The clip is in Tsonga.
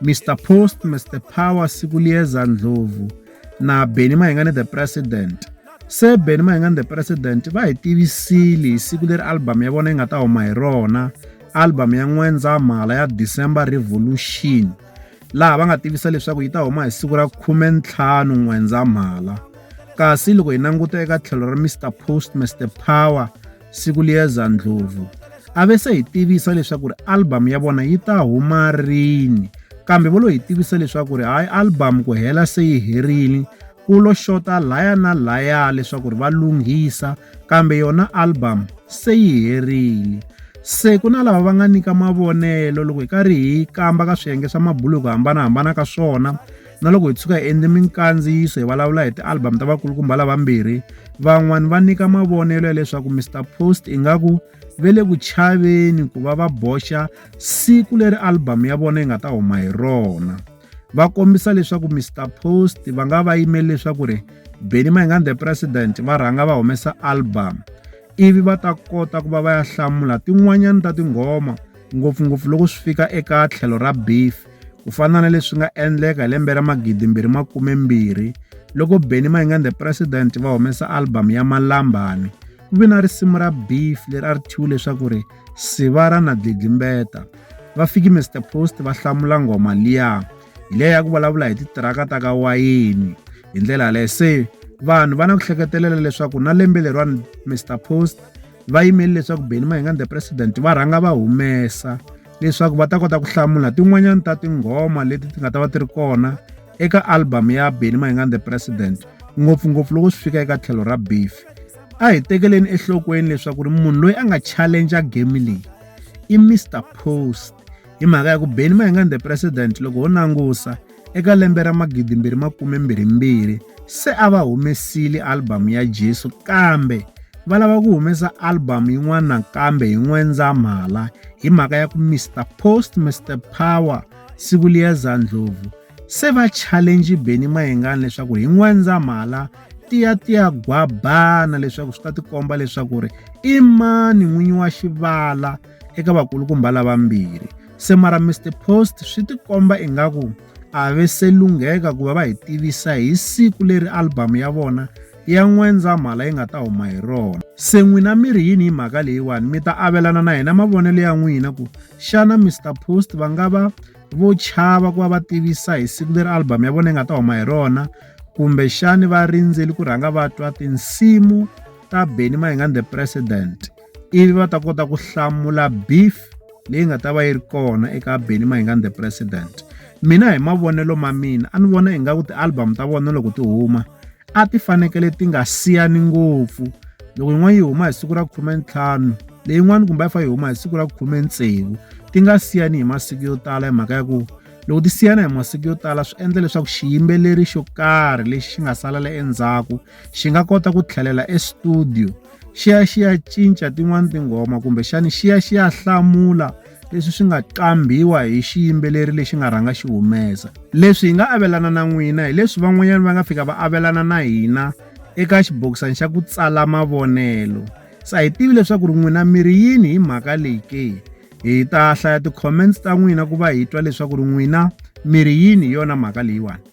Mister Post, Mister Power, Sikulieza Ndlovu na Benny Mayengani the President. Se Benny Mayengani the President va hi tivisile hi siku leri album ya vona yi nga ta huma hi rona, album ya N'wendzamhala ya December Revolution. Laha va nga tivisa leswaku yi ta huma hi siku ra 15 N'wendzamhala. Kasi loko hi languta eka tlhelo ra Mister Post, Mister Power, siku liyeza ndlhovu a ve se hi tivisa leswaku ri album ya vona yi ta huma rini kambe vo lo hi tivisa leswaku ri hayi album ku hela se yi herile ku lo xota laya na laya leswaku ri va lunghisa kambe yona album se yi herile se ku na lava va nga nyika mavonelo loko hi karhi hi kamba ka swiyenge swa mabulu hi ku hambanahambana ka swona Na loko hi tshuka hi endle minkandziyiso hi vulavula hi ti-album ta vakulukumba lavambirhi, van'wana va nyika mavonelo ya leswaku Mister Post ingaku ve le ku chaveni ku va va boxa siku leri album ya vona yi nga ta huma hi rona. Va kombisa leswaku Mister Post va nga va yimeli leswaku ri Benny Mayengani The President va rhanga va humesa album ivi va ta kota ku va va ya hlamula tin'wanyana ta tinghoma ngopfungopfu loko swi fika eka tlhelo ra beef. Ku fana na leswi nga endleka hi lembe ra 2020 loko Benny Mayengani the President va humesa album ya Malambani ku ve na risimu ra Beef leri a ri thyiwe leswaku ri Sivara na Dlidlimbeta va fiki Mr Post va hlamula nghoma liya hi leyi ya ku vulavula hi titiraka ta ka wayini hi ndlela yaleyo se vanhu va na ku hleketelela leswaku na lembe leriwani Mr Post va yimeli leswaku Benny Mahinga the president va rhanga va humesa leswaku va ta kota ku hlamula tin'wanyana ta tinghoma leti ti nga ta va ti ri kona eka album ya Benny Mahinga the president ngopfungopfu loko swi fika eka tlhelo ra beef a hi tekeleni enhlokweni leswaku ri munhu loyi a nga challenger game leyi i Mr Post hi mhaka ya ku Benny Mahinga the president loko ho langusa Eka lembe ra 2022, se a va humesile album ya Jesu kambe va lava ku humesa album yin'wana nakambe hi N'wendzamhala hi mhaka ya ku Mister Post Mister Power siku liya Zandlovu se va challenge Benny Mayengani leswaku hi N'wendzamhala tiya tiya gwabana leswaku swi ta tikomba leswaku ri i mani n'winyi wa xivala eka vakulukumba lavambirhi. Se mara Mr Post swi tikomba ingaku a ve se lungheka ku va va hi tivisa hi siku leri album ya vona ya N'wendzamhala yi nga ta huma hi rona. Se n'wina mi ri yini hi mhaka leyiwani? Mi ta avelana na hina mavonelo ya n'wina ku xana Mr Post va nga va vo chava ku va va tivisa hi siku leri album ya vona yi nga ta huma hi rona kumbe xani va rindzeli ku rhanga va twa tinsimu ta Benny Mayengani the President. ivi va ta kota ku hlamula beef leyi nga ta va yi ri kona eka Benny Mayengani the president mina hi mavonelo ma mina a ni vona ingaku ti-album ta vona loko ti huma a ti fanekele ti nga siyani ngopfu loko yin'wana yi huma hi siku ra khumentlhanu leyin'wana kumbe a yi fa yi huma hi siku ra khume tsevu ti nga siyani hi masiku yo tala hi mhaka ya ku loko ti siyana hi masiku yo tala swi endla leswaku xiyimbeleri xo karhi lexi xi nga salela endzhaku xi nga kota ku tlhelela estudio xi ya xi ya cinca tin'wani tinghoma kumbexani xi ya xi ya hlamula leswi swi nga qambhiwa hi xiyimbeleri lexi nga rhanga xi humesa leswi hi nga avelana na n'wina hi leswi van'wanyana va nga fika va avelana na hina eka xibokisana xa ku tsala mavonelo se a hi tivi leswaku ri n'wina mi ri yini hi mhaka leyi ke hi ta hlaya ti-comments ta n'wina ku va hi twa leswaku ri n'wina mi ri yini hi yona mhaka leyiwani